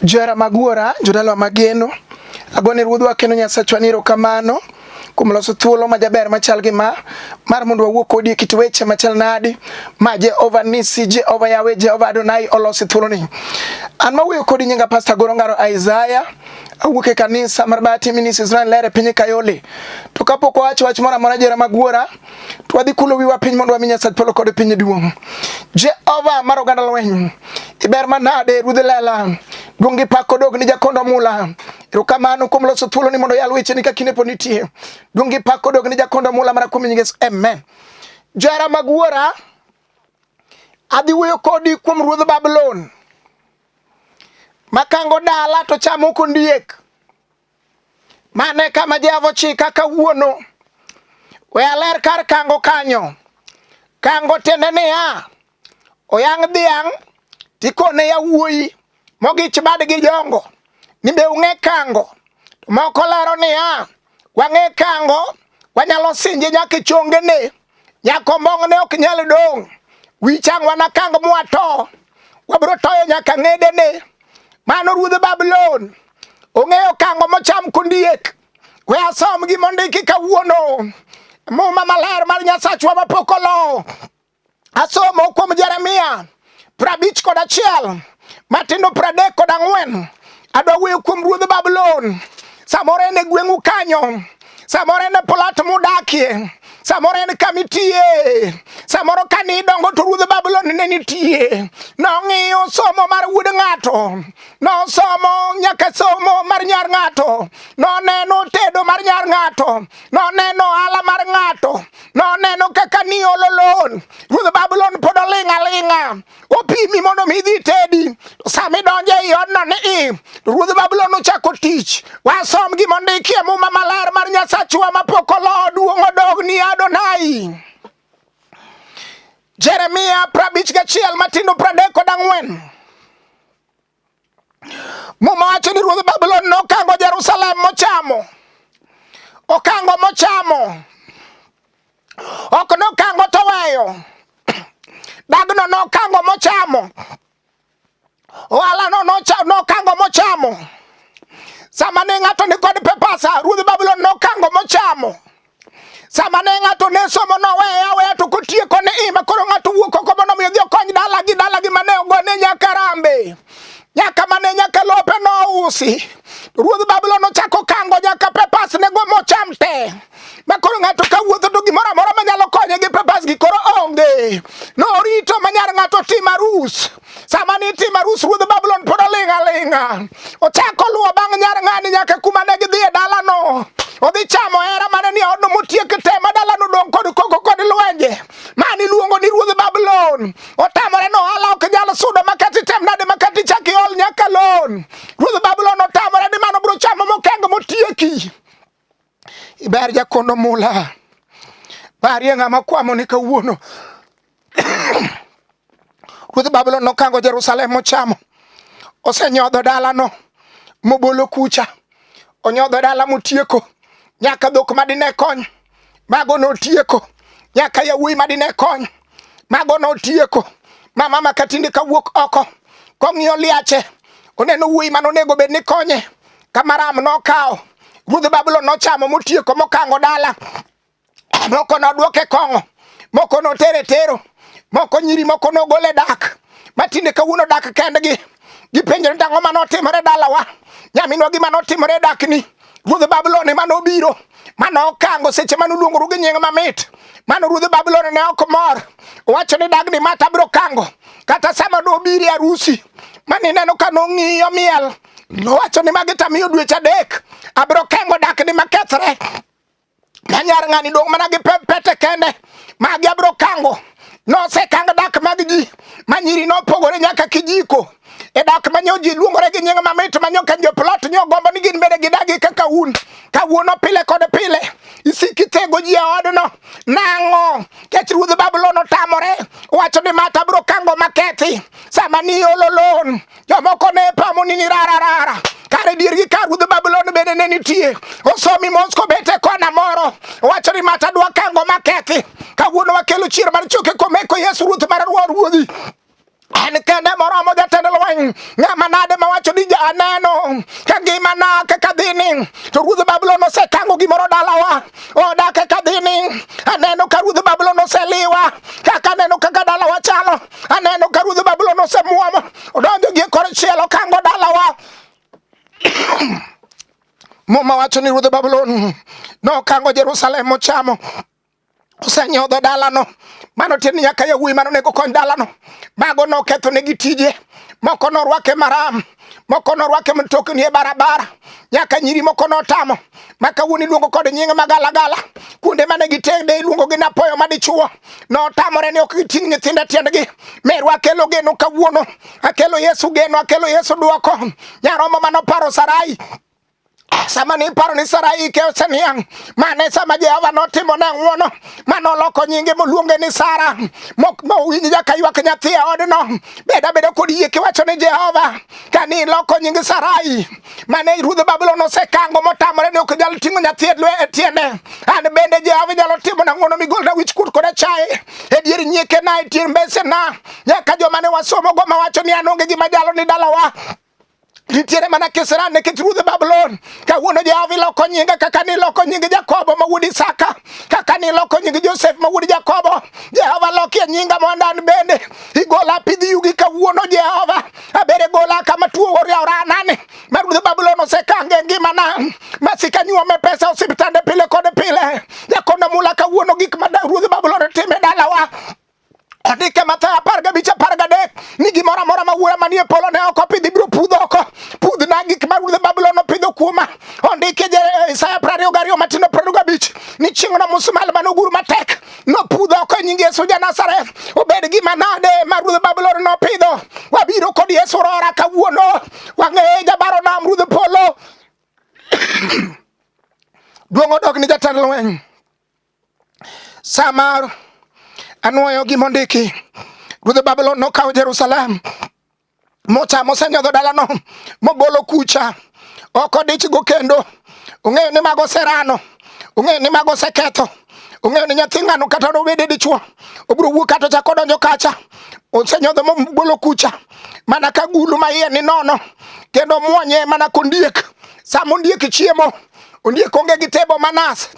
Johera mag wuora, jodalwa mageno, agone ruodhwa kendo Nyasachwa ni erokamano kuom loso thuolo ma jaber machal gi ma mar mondo wawuo kodi e kit weche machal nadi ma Jehova Nisi, Jehova Yawe, Jehova Adonai olosi thuoloni. An mawuoyo kodi nyinga Pastor Goro Ngaro Isaiah awuok e kanisa mar Bahati Ministries Israel Lere piny Kayole. To kapok owacho wach moro amora jera magwora twadhi kulo wiwa piny mondo wami Nyasach polo kod piny duong'. Jehova mar oganda lweny, iber manade ruodh lela, duong' gi pak kodog ni jakondo mula. Erokamano kuom loso thuolo ni mondo yal wecheni ka kinde pod nitie. Duong' gi pak kodog ni jakondo mula mana kuom nying Yesu. Amen. Johera mag wuora, adhi wuoyo kodi kuom ruodh Babulon makango dala to chamo kondiek. Mano e kama Jehova ochika kawuono. We aler kar kango kanyo. Kango tiende niya, oyang' dhiang' tikone yawuoyi mogich badgi jongo ni be ung'e kango. To moko lero niya, wang'e kango wanyalo sinje nyaka e chongene. Nyakombong' ne ok nyal dong' wi chang wanakang mwato wabiro toyo nyaka ng'edene mano ruodh Babulon ong'eyo kango mocham kondiek we asom gi mondiki kawuono muma maler mar nyasachwa mapok olo asomo kuom Jeremia prabich kod achiel matindo pradek kod ang'wen adwa wuoyo kuom ruodh Babulon. Samoro en e gweng'u kanyo, samoro en e plat mudakie, samoro en kama itiye, samoro ka ne idongo to ruodh Babulon ne nitie. Nong'iyo somo mar wuod ng'ato, nosomo nyaka somo mar nyar ng'ato, noneno tedo mar nyar ng'ato, noneno ohala mar ng'ato, noneno kaka niolo lon ruodh babulon pod oling' aling'a opimi mondo mi idhi tedi sami donje e odno ni i ruodh babulon ochako tich wasom gima ondiki e muma maler mar nyasachwa mapok olo duong' odog ni adonai jeremia prabich gachiel matindo pradek kod ang'wen Muma wacho ni ruodh Babulon nokango Jerusalem mochamo, okango mochamo, ok nokango toweyo, dagno nokango mochamo, ohalano nokango mochamo. Sama ne ng'ato ni kod pepasa, ruodh Babulon nokango mochamo. sama ne ng'ato ne somo noweye aweya to kotieko ne ima koro ng'ato wuok oko mondo mi odhi okony dalagi dalagi mane ogone nyaka rambe nyaka mane nyaka lope nousi ruodh babulon ochako kango nyaka pepas ne go mocham te ma koro ng'ato ka wuotho to gimoro amora manyalo konye gi pepas gi koro onge norito ma nyar ng'ato tim arus Sama nitimo arus ruodh Babulon pod oling' aling'a. Ochako luwo bang' nyar ng'ani nyaka kuma ne gidhi e dalano. Odhi chamo hera mane ni odno motiek te ma dalano dong' kod koko kod lwenje. Mani luongo ni ruodh Babulon. Otamore no ohala ok nyal sudo makati tem nade makati chak iol nyaka lon. Ruodh Babulon otamore ni mano biro chamo mokeng' motieki. Iber jakondo mula. Barie ng'ama kwamo ni kawuono. Ruodh Babulon nokango Jerusalem mochamo. Osenyodho dalano mobolo kucha. Onyodho dala motieko. Nyaka dhok madine kony. Mago notieko. Nyaka yawuoyi madine kony. Mago notieko. Mama makatinde kawuok oko. Kong'iyo liache. Oneno wuoyi manonego bed ni konye. Kamaram nokawo ruodh Babulon nochamo motieko mokango dala moko nodwoke kong'o moko notere tero moko nyiri moko nogole dak matinde kawuono dak kendgi gipenjore tang'o ma notimore dalawa nyaminwa gima notimore dakni ruodh Babulon ema nobiro mane okango seche mane uluongoru gi nying mamit mano ruodh Babulon ne ok mor owacho ni dagni mata biro kango kata sama nobiri arusi mane ineno ka nong'iyo miel nowacho ni magi tamiyo dweche adek abiro kengo dakni makethre na nyar ng'ani dong' mana gi pete kende magi abiro kango nosekang dak mag ji ma nyiri nopogore nyaka kijiko e dak ma nyo ji luongore gi nying mamit ma nyo kenjo plot nyo gombo ni gin bende gidagi kaka un kawuono pile kod pile isiki tego ji e odno nang'o kech ruodh babulon otamore wacho ni mata biro kango makethi sama ni ololon jomoko ne pamo ni nirararara kare diergi ka ruodh Babulon bende ne nitie. Osomi mos kobet e kona moro, wacho ni mata dwa kango makethi. Kawuono wakelo chier mar choke komeko Yesu ruoth mar ruodhi en kende moromo jatend lweny ng'ama nade mawacho ni aneno ka ngimana kaka dhini to ruodh babulon osekango gimoro dalawa oda kaka dhini aneno ka ruodh babulon oseliwa kaka aneno kaka dalawa chalo Aneno ka ruodh Babulon osemwomo odonjo gi kor chielo kango dalawa. Muma wacho ni ruodh Babulon nokango Jerusalem mochamo osenyodho dalano mano tiende ni nyaka yawuoyi mano nego kony dalano mago noketho negi tije moko norwake maram moko norwake mtokni e barabara nyaka nyiri moko notamo ma kawuono iluongo kod nying magalagala kuonde mane gitede iluongo gi napoyo madichuo notamore ni ok giting' nyithindo e tiendgi meru akelo geno kawuono akelo yesu geno akelo yesu dwoko nyaromo manoparo sarai sama niparo ni Sarai ike oseniang' mane sama Jehova notimo ne ng'wono mane oloko nyinge moluonge ni Sara mowinj jaka ywak nyathi e odno beda beda kod yie kiwacho ni Jehova ka ni iloko nying Sarai mane ruodh Babulon osekango motamore ni ok nyal ting'o nyathi e tiende an bende Jehova inyalo timo na ng'wono migolna wich kut kod achaye e dier nyiekena e dier mbesena nyaka joma ne wasomogo mawacho ni an onge gima jalo ni dalawa nitiere mana kisera nikech ruodh Babulon. Kawuono Jehova iloko nyinga kaka niloko nying Jakobo ma wuod Isaka, kaka niloko nying Josef ma wuod Jakobo. Jehova lokie nyinga mondo an bende igola pidh yugi kawuono Jehova. Abere gola kama tuo oria oranani. Ma ruodh Babulon osekange ngimana. Masika nyuome pesa osiptande pile kod pile. Jakondo mula kawuono gik ma ruodh Babulon time dalawa. Odike Mathayo apar gabich apar gadek ni gimoro amora ma wuora manie polo ne ok opidhi biro pudho oko pudhna gik ma ruodh Babulon opidho kuoma. Ondike eh, Isaya prariyo gariyo matindo prariyo gabich ni chieng'no musmal mane ogur matek nopudho oko e nying Yesu ja Nazareth. Obed gima nade ma ruodh Babulon nopidho? Wabiro kod Yesu rora kawuono wang'eye jabaro nam ruodh polo duong' odok ni jatend lweny Sa mar anwoyo gima ondiki, ruodh Babulon nokawo Jerusalem mochamo osenyodho dalano mogolo kucha ok odichgo kendo. Ong'eyo ni mago oserano, ong'eyo ni mago oseketho, ong'eyo ni nyathi ng'ano kata nobede dichwo obiro wuok kata ochako odonjo kacha osenyodho mogolo kucha mana ka gulu ma iye ni nono kendo mwonye mana kondiek sama ondiek chiemo ondiek onge gi tebo manas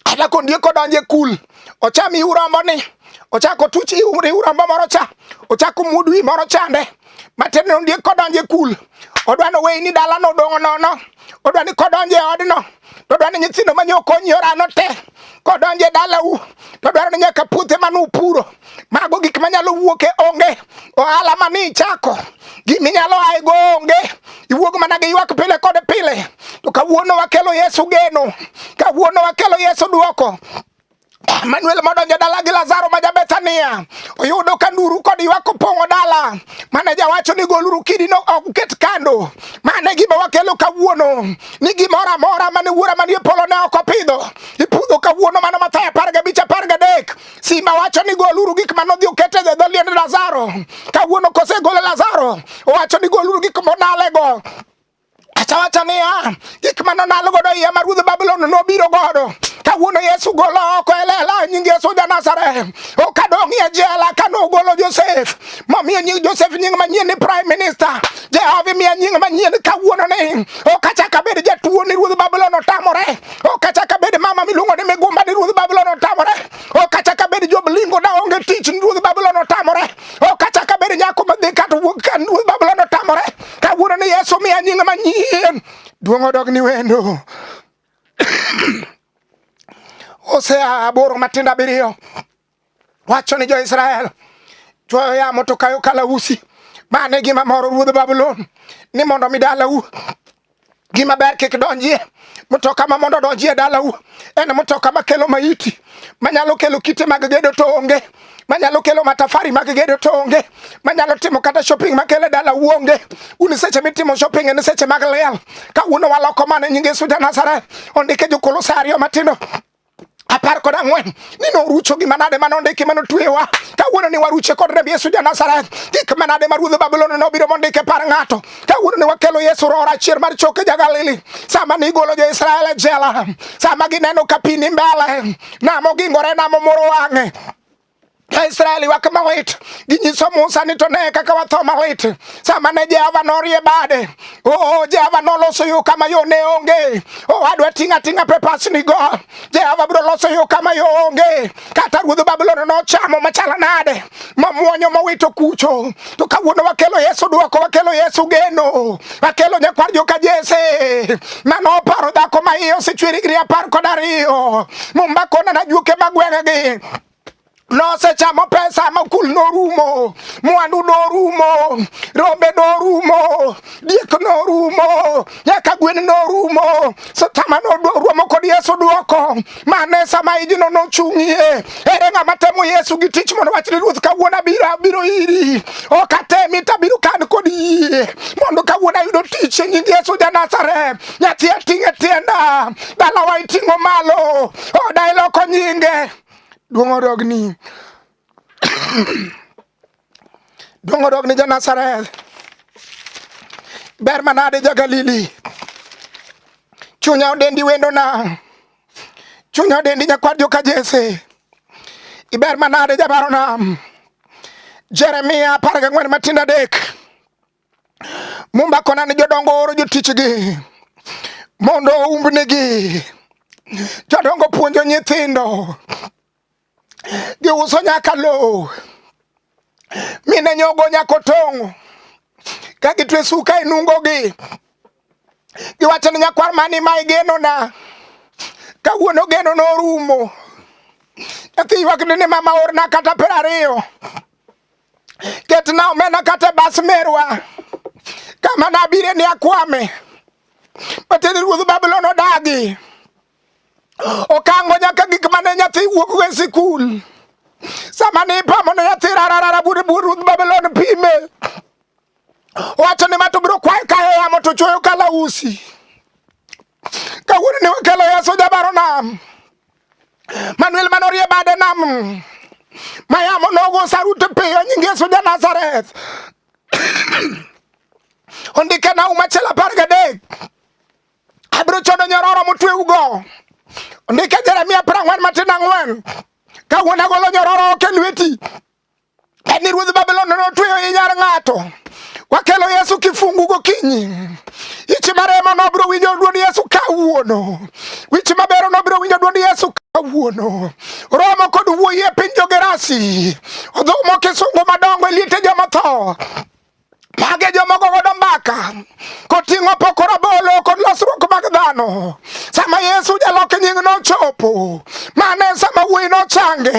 kata kondiek odonje kul ocham iu rombo ni ochako tuch iu rombo moro cha ochako mudu wi moro chande matin ni ondiek kodonje kul odwa ni oweyi ni dalano odong'o nono odwa ni kodonje odno to odwa ni nyithindo manyo okonyi orano te kodonje dalau to dwaro ni nyaka puothe mane upuro Mago gik manyalo wuok e onge. Ohala ma nichako, gima inyalo aye go onge. Iwuog mana gi ywak pile kod pile. To kawuono wakelo Yesu geno, kawuono wakelo Yesu dwoko. Manuel modonjo dala gi Lazaro ma Jabethania oyudo ka nduru kod ywak opong'o dala mane jawacho ni goluru kidino ok uket kando. Mane gima wakelo kawuono ni gimoro amora mane wuora manie polo ne ok opidho ipudho kawuono mano Mathayo apar gabich apar gadek Simba wacho ni goluru gik mane odhi oket e dho liend Lazaro. Kawuono kosegolo Lazaro, owacho ni goluru gik monalego. Achawacha niya, gik mane onal godo iye ma ruodh Babulon nobiro godo. Kawuono Yesu golo oko e lela nying Yesu ja Nazareth. Okadong' e jela kane ogolo Josef. Momiyo nying Josef nying manyien ni prime minister. Jehova miya nying manyien kawuono ni ok achak abed jatuo ni ruodh Babulon otamore. Okachaka bed mama miluongo ni migumba ni ruodh Babulon otamore. Okachaka bed Job lingo da onge tich ni ruodh Babulon otamore. Okachaka bed nyako madhi kata wuok ka ruodh Babulon otamore. Kawuono ni Yesu miya nying manyien. Duong' odog ni wendo. Hosea aboro matindo abiriyo. Wacho ni jo-Israel chwoyo yamo to kayo kalausi. Mano e gima moro ruodh Babulon ni mondo mi dalau gima ber kik donjie mtoka ma mondo donji e dalau en mtoka ma kelo maiti manyalo kelo kite mag gedo to onge manyalo kelo matafari mag gedo to onge manyalo timo kata shopping makele dala uonge un seche mitimo shopping en seche mag liel kawuono waloko mane nyinge suja nazareth ondike jokolosario matindo apar kod ang'wen ni norucho gima nade ma nondiki ma notwewa kawuono ni waruche kod remb yesu janazareth gik manade ma ruodh babulon nobiro mondike par ng'ato kawuono ni wakelo yesu rohor achier mar choke jagalili sama nigolo jo-israel e jela sama gineno ka pi ni mbele nam ogingore nam omoro wang'e Israeli wa kamalit ginyiso Musa ni to ne kaka watho malit sama ne Jehova norie bade. Oh, Jehova noloso yo kama yo ne onge. Oh, adwa ting'a ting'a pepas ni go. Jehova bro loso yo kama yo onge. Kata ruodh Babulon nochamo machala nade. Mamuonyo mowito kucho. to kawuono wakelo Yesu dwoko, wakelo Yesu geno, wakelo nyakwar joka Jese mano oparo dhako ma iye osechwer higni apar kod ariyo mumba kona na juoke ma gweng'egi nosechamo pesa ma kul norumo, mwandu norumo, rombe norumo, diek norumo, nyaka gwen norumo, sitama norumo kod Yesu dwoko mane sama ijno nochung'ie. Ere ng'ama temo Yesu gi tich mondo wachni Ruoth kawuono abiro abiro iri. Ok atemi to abiro kan kod yie mondo kawuono ayudo tich e nying Yesu ja Nazareth. Nyathi ating'e tienda, dalawa iting'o malo, oda iloko nyinge. Duong' orogni. dongo dok ni janazareth ber manade jagalili chunya odendi wendo na chunya odendi nyakwar joka jese iber manade jabaro nam jeremia apar gang'wen matindo adek mumba kona ni jodongo oro jotichgi mondo oumbnigi jodongo puonjo nyithindo giuso nyaka lowo mine nyogo nyaka otong'o ka gitwe suka e nungogi giwacho ni nyakwar mani ma igenona kawuono geno norumo nyathi ywak ni mama orna kata piero ariyo ketna omena kata bas merwa kama nabire ni akwame matiende ruodh babulon odagi okango nyaka gik mane nyathi wuok e sikul sama ne ipamo ne nyathi rararara bur bur ruth babelon pime wacho ni mato biro kwayo kayo yamo to chuoyo kalausi kawuono ne wakelo ya soja baro nam manuel mane orie bade nam ma yamo nogo sarute piyo nyinge soja nazareth ondike na uma achiel apar gadek Abiro chodo nyororo motweugo. Ndike Jeremia apar ang'wen matin ang'wen. Ka wuon agolo nyororo ok e lweti. En ni ruodh Babulon notweyo i nyar ng'ato. Wakelo Yesu kifungu gokinyi. Ichi maremo nobiro winjo dwond Yesu kawuono. Wich mabero nobiro winjo dwond Yesu kawuono. Romo kod wuoyi e piny jogerasi. Odhumo kisungu madongo e liete joma tho. Mage jomoko godo mbaka koting'o poko rabolo kod losruok mag dhano. Sama Yesu jalok nying nochopo, mane sama wuoyi nochange.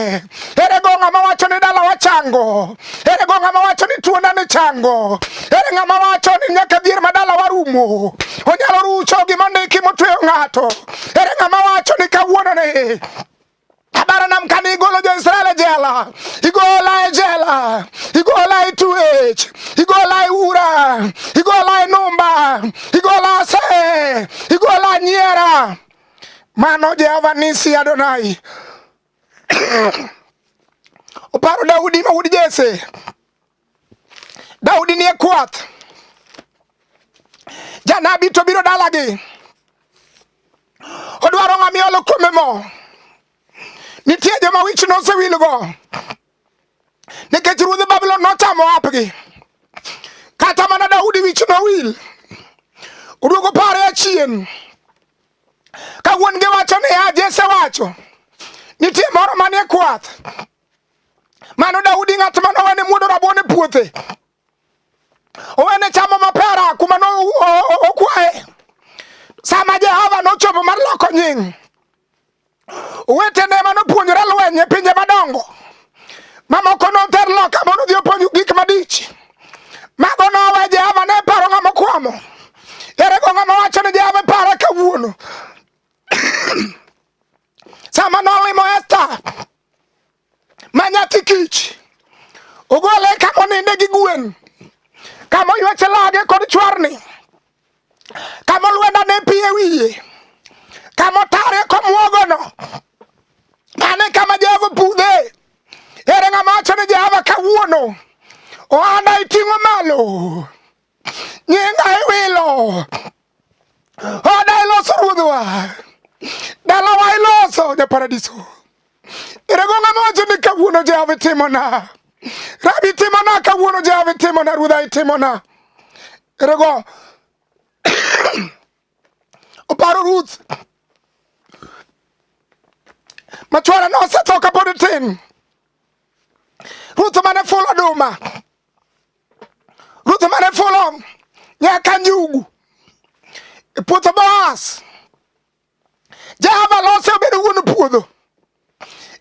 Ere go ng'ama wacho ni dala wachango? Ere go ng'ama wacho ni tuona ni chango? Ere ng'ama wacho ni nyaka dhier ma dala warumo? Onyalo rucho gima ndiki motweyo ng'ato. Ere ng'ama wacho ni kawuono ni Abara nam kan igolo jo Israel e jela, igola e jela, igola e tuech, igola e ura, igola e numba, igola se, igola nyiera. Mano Jehova nisi Adonai. Oparo Daudi ma wuod Jesse. Daudi nie kwath, janabi to biro dalagi, odwaro ng'ama iolo kuome mo. Nitie joma wich nosewilgo nikech ruodh Babulon nochamo apgi. Kata mana Daudi wich nowil, oduogo pare achien ka wuon-gi wacho niya, Jesse wacho nitie moro manie kwath Mano Daudi ng'at ma nowene muodo rabuon e puothe, owene chamo mapera kuma nokwaye. Sama Jehova nochopo mar loko nying, owetene ma nopuonjore lweny e pinje madongo mamoko noter loka mondo odhi opuonj gik madich. Mago nowe Jehova ne paro ng'ama okwamo. Ere go ng'ama wacho ni Jehova paro kawuono? sama nolimo Esta manyathi kich ogole kama oninde gi gwen kama oywache lage kod chwarni kama olwenda ne pi e wiye kama otare komwogono mane kama Jehova pudhe ere ng'ama wacho ni Jehova kawuono ohanda iting'o malo nyinga iwilo oda iloso ruodhwa dalawa iloso ja paradiso irego ng'ama wacho ni kawuono jehova itimona rabi itimona kawuono jehova itimona ruodha itimona irego oparo ruth machwara nosetho kapod tin ruth mane ful oduma Ruth mane fulo nyaka njugu e puotho Boaz. Jehova lose obedo wuon puodho.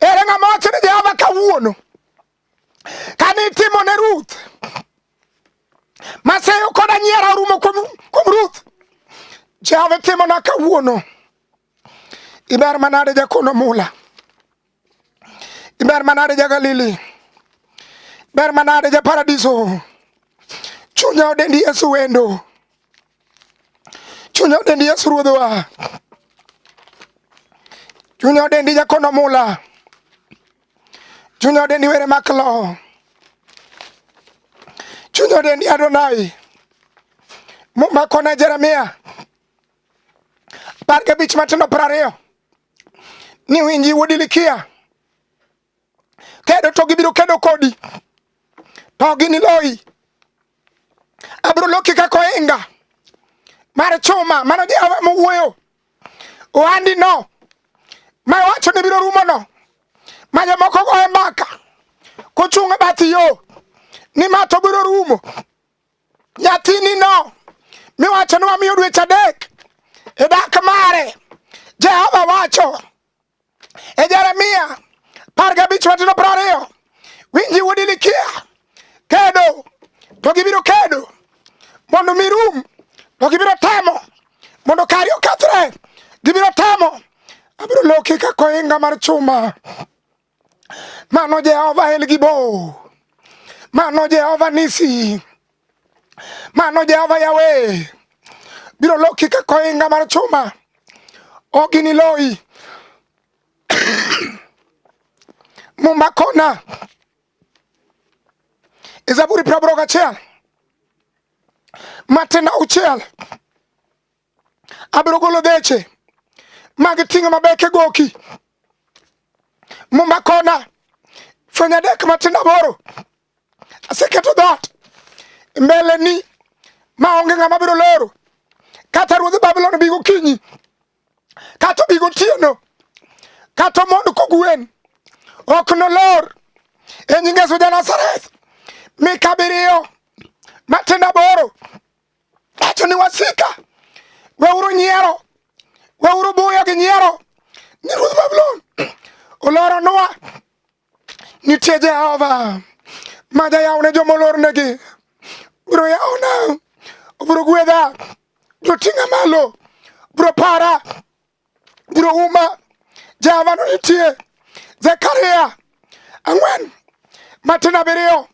Ere ng'ama wacho ni Jehova kawuono kane itimo ne Ruth maseyo koda nyiera orumo kuom Ruth. Jehova itimona kawuono. Iber manade jakono mula. Iber manade ja Galili. Ber manade ja paradiso. Chunya odendi Yesu wendo. Chunya odendi Yesu ruodhwa. Chunya odendi jakono mula. Chunya odendi were maklo. Chunya odendi Adonai. Muma kona Jeremia. Apar gabich matindo piero ariyo ni winji wuod Ilikia kedo to gibiro kedo kodi to giniloyi abiro loki kaka ohinga mar chuma mano Jehova mowuoyo ohandino ma wacho ni biro rumono ma jomoko goye mbaka kochung' e bath yo ni ma to biro rumo Nyathini no miwacho ni wamiyo dweche adek e dak mare, Jehova wacho e Jeremia par gabich matino piero ariyo, winji wuod Hilikia, kedo to gibiro kedo mondo mirum to gibiro temo mondo kari okethre, gibiro temo abiro loki kaka ohinga mar chuma. Mano Jehova El Gibo, mano Jehova Nisi, mano Jehova Yawe biro loki ka koinga mar chuma, ok iniloyi mumba kona e Zaburi praboro gachiel matenda uchiel abiro golo geche mag ting'o mabeke goki muma kona fweny adek matindo aboro aseketo dhoot mbeleni ma onge ng'ama biro loro kata ruodh babulon bi gokinyi kata obi gotieno kata omond kogwen ok nolor e nyinge suja nazareth mika biriyo matindo aboro Echo ni wasika. Weuru nyiero. Weuru buyo gi nyiero. Ni Ruoth Babulon oloro nwa. Nitie Jehova ma jayaw ne joma olornegi. Biro yawona. Biro gwedha. Biro ting'a malo. Biro para. Biro uma. Jehova no nitie. Zekaria ang'wen matin abiriyo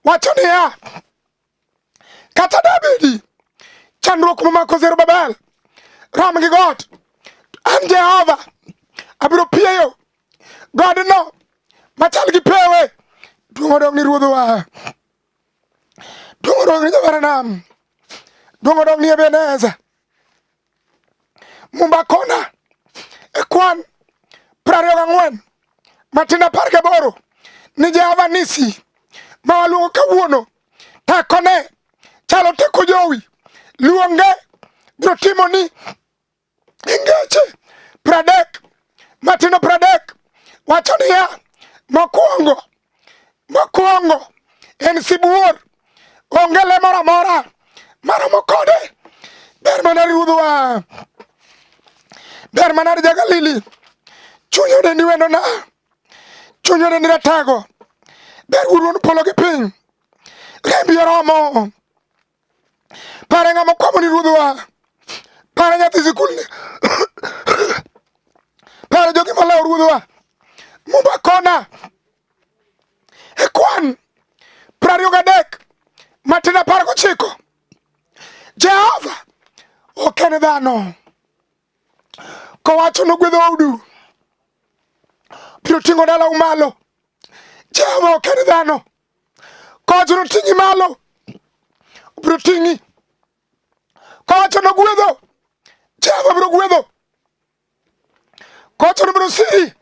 wacho niya Kata dabedi chandruok momako Zerubabel rom gi got, an Jehova abiro pieyo godno machal gi pewe. Duong' odog ni ruodhwa, duong' odog ni jawar nam, duong' odog ni Ebeneza. Mumba Kona e kwan prariyo gang'wen matin apar gaboro ni Jehova Nisi ma waluongo kawuono tekone chalo teko jowi luonge biro timo ni ingeche pradek matino pradek wacho niya mokwongo Mokwongo en sibuor, onge le moro amora maromo kode. Ber mana ruodhwa, ber mana ja-Galili, chuny odendi wendona, chuny odendi ratago, ber wuon polo gi piny, rembi oromo. Pare ng'ama kwamo ni ruodh wang'a. Pare nyathi sikulni. Pare jogi malawo ruodh wang'a. Mumba kona. E kwan prariyo gadek matin apar gochiko. Jehova ok en dhano. Kowacho nogwedho udu. Biro ting'o dalau malo. Jehova ok en dhano. Kowacho noting'i malo, obiro ting'i. Kowacho nogwedho, Jehova biro gwedho. Kowacho nobiro siri,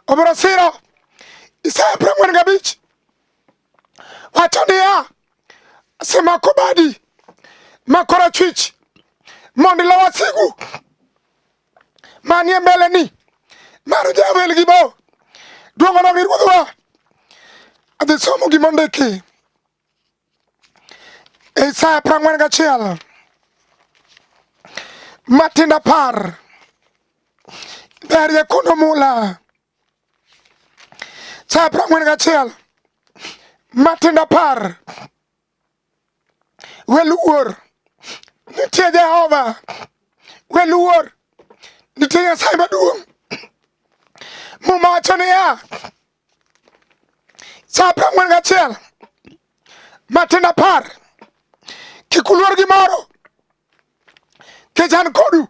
obiro siro. Isaya piero ang'wen gabich wacho niya, asemako badi ma korachwich mondo ilo wasigu manie mbele ni mar jawel gi bo duongo na ruodhwa adhi somo gima ondiki e Isaya piero ang'wen gachiel matinda par ber jakundo mula Isaya piero ang'wen gachiel matinda par Weluor nitie Jehova, weluor nitie Nyasaye maduong'. Muma wacho niya, sa apar ang'wen gachiel matin apar, kik uluor gimoro, kech an kodu,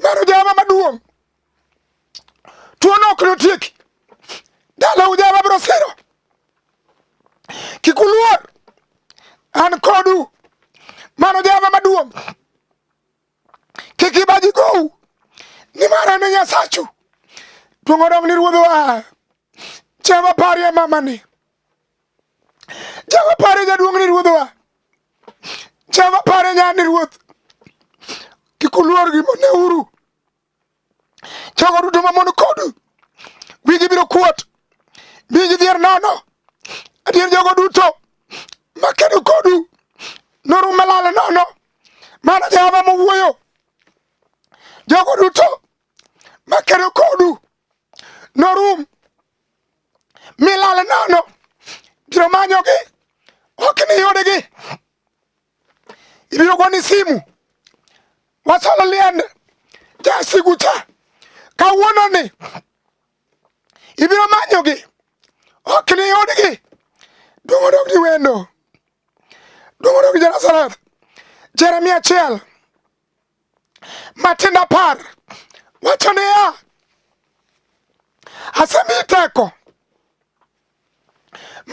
mano Jehova maduong' Tuono ok notieki. Dala ujaba biro siro. Kik uluor. An kodu. Mano java maduong'. Kik ibaji gou. Nimar an e Nyasachu. Duong' odong ni ruodhwa. Jehova parie mamani. Jehova parie jaduong' ni ruodhwa. Jehova parie nyani ruoth. Kik uluor gimoneuru. Jogo duto mamon kodu wigi biro kuot, mi gidhier nono. Adier jogo duto makedo kodu norum malal nono. Mano Jehova mowuoyo. Jogo duto makedo kodu norum milal nono. Biro manyogi ok niyudgi. iliyoko ni simu wasolo liende jasigu cha kawuono ni ibiro manyogi ok ni yudgi dongo dog ni wendo dongo dog Jerusalem Jeremia achiel matindo apar wacho niya asemi teko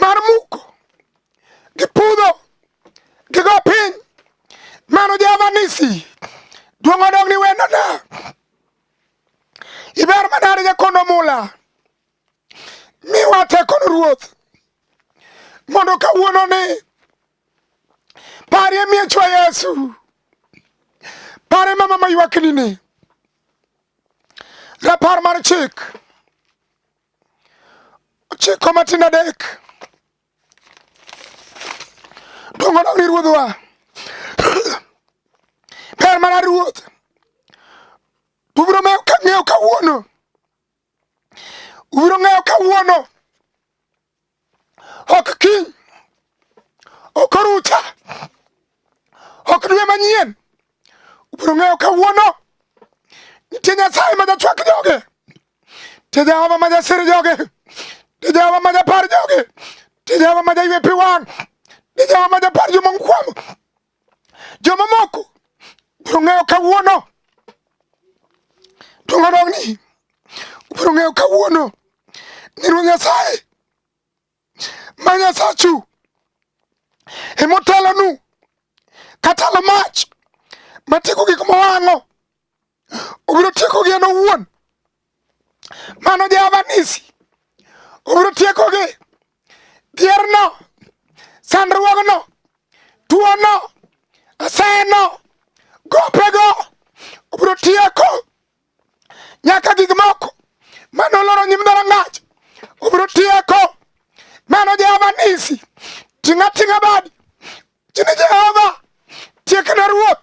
mar muko gi pudho gi go piny mano jehova nisi duong' odog ni wendona iber manade jakondo mula miwa tekono ruoth mondo kawuono ni parie miechwa yesu pare mama maywakni ni rapar mar chik ochiko matin adek dongo dong ni ruodhwa ber mana ruoth ubiro ng'eyo kawuono ubiro ng'eyo kawuono ok kiny, ok orucha, ok dwe manyien. Ubiro ng'eyo kawuono nitie Nyasaye ma jachwak joge, nitie Jehova ma jasir joge, nitie Jehova ma japar joge, nitie Jehova ma jaywe pi wang', nitie Jehova ma japar joma okwamo. Jomamoko biro ng'eyo kawuono, to ng'ano ni ubiro ng'eyo kawuono ni Ruoth Nyasaye ma Nyasachu emotelonu katalo mach matieko gik mowang'o obiro tieko gi en owuon mano javanisi obiro tieko gi dhierno sandruogno tuono aseno gopego obiro tieko nyaka gik moko mano loro nyim dharangach obiro tieko mano javanisi ting'ating'a badi chini jehova tiekna ruoth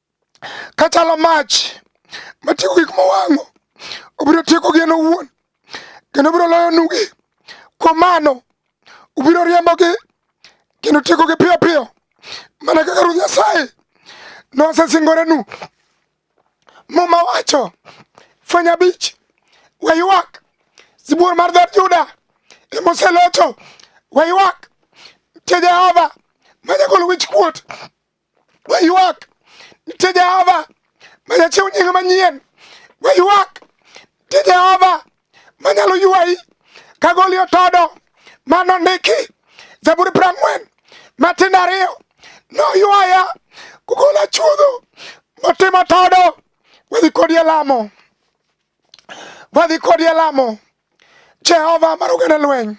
kachalo mach matieko gik mowang'o obiro tieko gien owuon kendo obiro loyo nugi kuom mano ubiro riembogi kendo tiekogi piyo piyo mana kaka ruoth nyasaye nosesingorenu muma wacho fweny abich waywak sibuor mar dhood juda emoselocho waywak tie jehova manyagol wich kuot Waywak nitie Jehova ma jachiw nying manyien. Waywak nitie Jehova ma nyalo ywayi ka goli otodo ma nondiki Zaburi piero ang'wen matindo ariyo noywaya kugola chuodho motimo todo wadhi kodi e lamo wadhi kodi e lamo jehova mar oganda lweny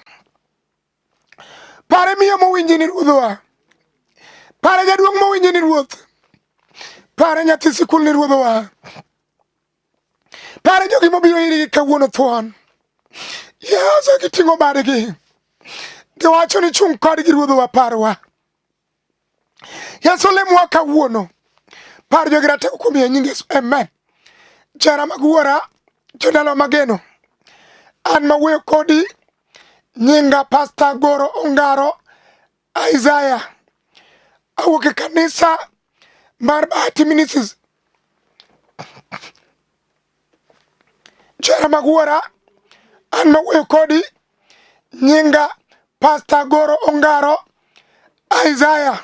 Pare miyo mowinji ni ruodhwa. Pare jaduong' mowinji ni ruoth. Pare nyathi sikul ni ruodhwa. Pare jogi mobiro irigi kawuono thuon. Yesu giting'o badgi. Giwacho ni chung' kodgi ruodhwa parwa. Yesu lemowa kawuono. Par jogi ratego kuom ye nying Yesu. Amen. Jara mag wuora, jodalo mageno. An ma wuoyo kodi nyinga Pasta Goro Ongaro Isaiah. Awuok e kanisa mar Bahati Ministries. Jera mag wuora, an mawuoyo kodi nyinga Pasta Goro Ongaro Isaiah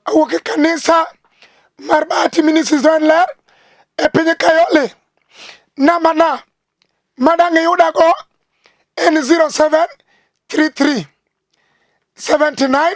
awuok e kanisa mar Bahati Ministries Ler e piny Kayole. Namana madang' iyudago en 0733 79